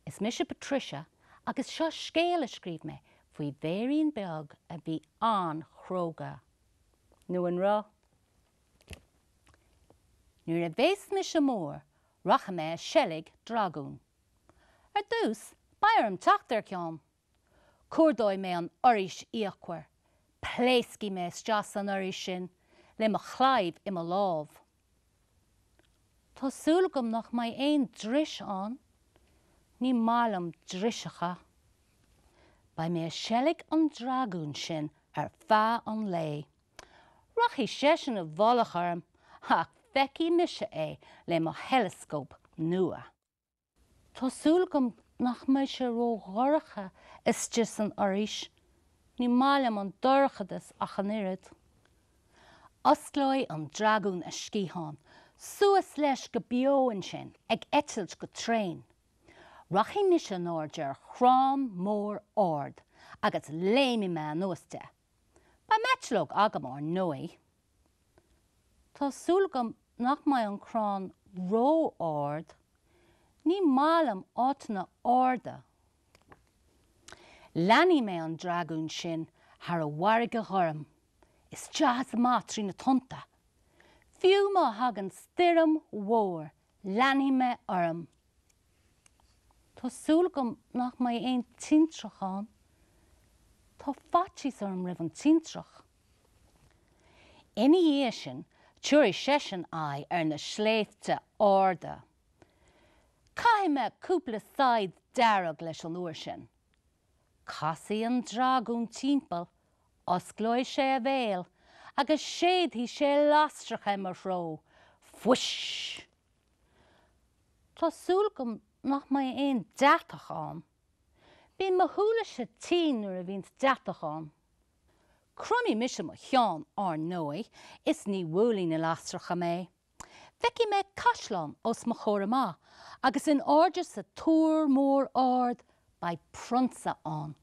Is mise Patricia agus seo scéal a scríobh mé faoi bhéirín beag a bhí an-chróga. Nó an raibh? Nuair a bheas mise mór, rachaidh mé ag seilg dragún. Ar dtús, beidh orm teacht ar cheann! cuardóidh mé an fhoraois fhíochmhar, pléascfaidh mé isteach san fhoraois sin le mo chlaíomh i mo lámh. Tá súil agam nach mbeidh aon dris ann, ní maith liom driseacha. Beidh mé ag seilg an dragúin sin ar feadh an lae. Rachaidh seisean i bhfolach orm ach feicfidh mise é le mo theileascóp nua. Tá súil agam nach mbeidh sé ró-dhorcha istigh san fhoraois, ní maith liom an dorchadas ach an oiread. Osclóidh an dragún a sciatháin, suas leis go beo ansin, ag eitilt go tréan. Rachaidh mise in airde ar chrann mór ard agus léimfidh mé anuas de. Beidh m'eitleog agam, ar ndóigh. Tá súil agam nach mbeidh an crann ró-ard. Ní maith liom áiteanna arda. Leanfaidh mé an dragún sin thar an bhfarraige ghorm, isteach is amach trí na tonnta, fiú má thagann stoirm mhór Leanfaidh mé orm. Tá súil agam nach mbeidh aon tintreach ann. Tá faitíos orm roimh an tintreach. Ina dhiaidh sin, tiúrfaidh seisean aghaidh ar na sléibhte arda. Caithfidh mé cúpla saighead dearg leis an uair sin. Casfaidh an dragún timpeall, osclóidh sé a bhéal agus séidfidh sé lasracha i mo threo. Fuish! Tá súil agam nach mbeidh aon deatach ann. Bíonn mo shúile-se tinn nuair a bhíonns deatach ann. Cromfaidh mise mo cheann, ar ndóigh, is ní bhuailfidh na lasracha mé. Feicfidh mé caisleán os mo chomhair amach agus in airde sa túr mór ard beidh prionsa ann.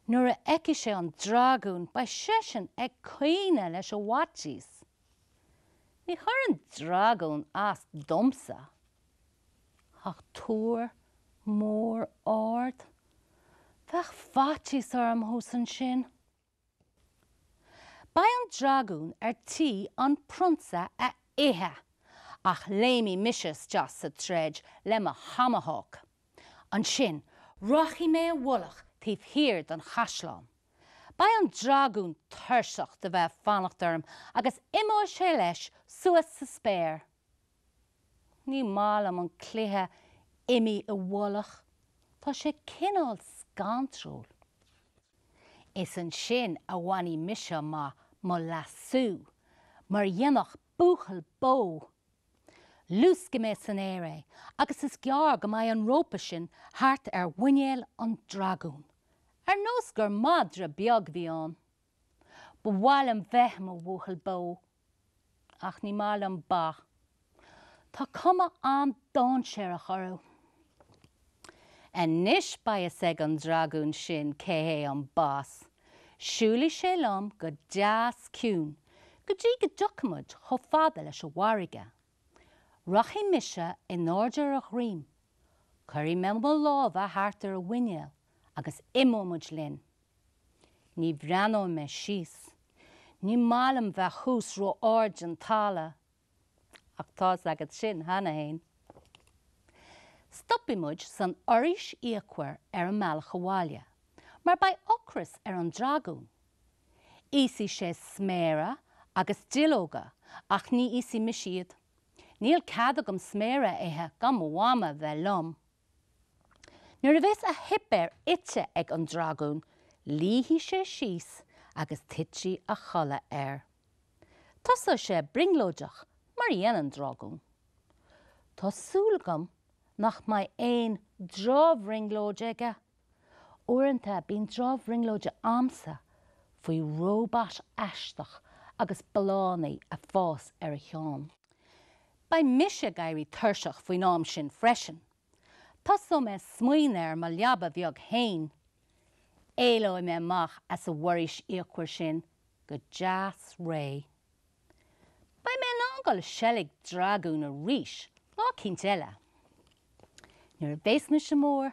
Nuair a fheicfidh sé an dragún beidh seisean ag caoineadh leis an bhfaitíos. Ní chuirfidh an dragún as domsa ach túr mór ard. Bheadh faitíos orm thuas ansin. Beidh an dragún ar tí an prionsa a ithe! Ach léimfidh mise isteach sa troid le mo thomahawk. Ansin, rachaidh mé i bhfolach taobh thiar den chaisleán. Beidh an dragún tuirseach de bheith ag fanacht orm agus imeoidh sé leis suas sa spéir. Ní maith liom an cluiche imigh i bhfolach, tá sé cineál scantrúil. Is ansin a bhainfidh mise amach mo lasú, mar a dhéanfadh buachaill bó. Luascfaidh mé san aer é agus is gearr go mbeidh an rópa sin thart ar mhuinéal an dragúin, ar nós gur madra beag a bhí ann. Ba mhaith liom bheith i mo bhuachaill bó. Ach ní maith liom ba. Tá cuma an-dainséarach orthu. Anois beidh fhios ag an dragún sin cé hé an Boss. Siúlfaidh sé liom go deas ciúin go dtí go dtiocfaimid chomh fada leis an bhfarraige Rachaidh mise in airde ar a dhroim, cuirfidh mé mo lámha thart ar a mhuinéal agus imeoidh muid linn. Ní bhreathnóidh mé síos, ní maith liom bheith thuas ró-ard den talamh. Ach tá's agat sin cheana féin. Stopfaidh muid san fhoraois fhíochmhar ar an mbealach abhaile, mar beidh ocras ar an dragún. Íosfaidh sé sméara agus duilleoga ach ní íosfaidh mise iad. Níl cead agam sméara a ithe gan mo mhama bheith liom. Nuair a bheas a shuipéar ite ag an dragún, luífidh sé síos agus titfidh a chodladh air. Tosóidh sé ag brionglóideach mar a dhéanann dragún. Tá súil agam nach mbeidh aon drochbhrionglóid aige Uaireanta bíonn drochbhrionglóid a'msa faoi róbat aisteach agus ballánaí a' fás ar a cheann. Beidh mise ag éirí tuirseach faoin am sin freisin. Tosóidh mé smaoineamh ar mo leaba bheag fhéin. Éalóidh mé amach as a' bhforaois fhíochmhar sin go deas réidh. Beidh mé in ann dul a sheilg dragún arís lá eicínt eile. Nuair a bheas mise mór